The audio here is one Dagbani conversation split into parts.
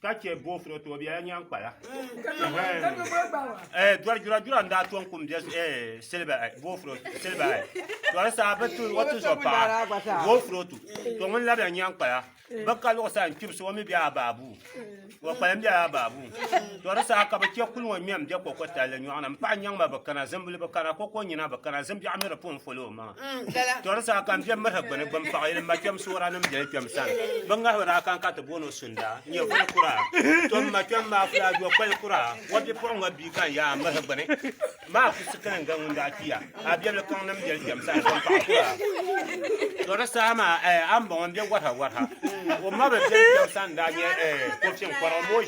ka chɛ boofuro tooi biɛla nyaŋ kpala. Eh, dɔri jura jura n daa tɔŋ kum bɛ eh, siliba eh, boofuro siliba eh. Dɔri saa bi tu o ti zɔ paɣa boofuro tu to ŋun labila nyaŋ kpala bi ka luɣu saa n kpibisi o mi bɛ a baabu o kpalim bɛ a baabu dɔri saa ka bi chɛ kuli ŋɔ ŋmɛm bɛ koko talli nyɔɣu ni n paɣa nyaŋ ma bi kana zimbili bi kana koko nyina bi kana zimbiɛɣu mi di pun foli o maŋa. Tɔri saa ka n kpɛm miri gbuni gbuni paɣa yili ma kpɛm soora nim biɛli kpɛm sani bin ŋahi daa kan ka ti booni sunda n nyɛ kuli kura to ma kpɛm maa kula do kpali kura wa bi puɣi ŋa bi kan yaa miri gbuni maa ku si kini ga ŋun daa kpiya a biɛli kaŋ nim biɛli kpɛm sani bin paɣa kura tɔri saa maa eh, a mbɔŋɔ n bɛ warha warha o ma bi biɛli kpɛm sani daa nyɛ eh, ko fiŋ kɔra o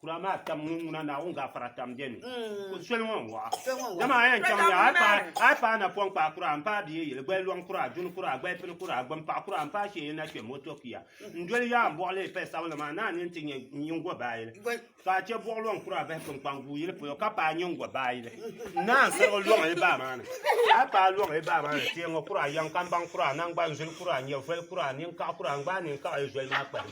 kura maa tam ŋun ŋuna naawuni gafara tam bɛ ni mm. soli ŋɔ n-waɣa dama a yɛn chaŋya a yi paai napɔŋ kpaa kura n paai bia yili gbali lɔŋ kura duni kura gbali pini kura gbumpaɣ kura n paai shee na kpɛ moto kia n doli yaa n bɔɣili pɛ sabinli maa naa ni n ti nyɛ nyingo baayili ka a chɛ bɔɣ lɔŋ kura bahi kpinkpaŋ guu yili polo ka paai nyingo baayili naa n sirigi lɔŋ yi baa maa ni a paai lɔŋ yi baa maa ni teeŋo kura yɛŋ kambaŋ kura nangbani zuli kura nyɛvoli kura ninkaɣ kura n gbaai ninkaɣ yi zoli maa kpahim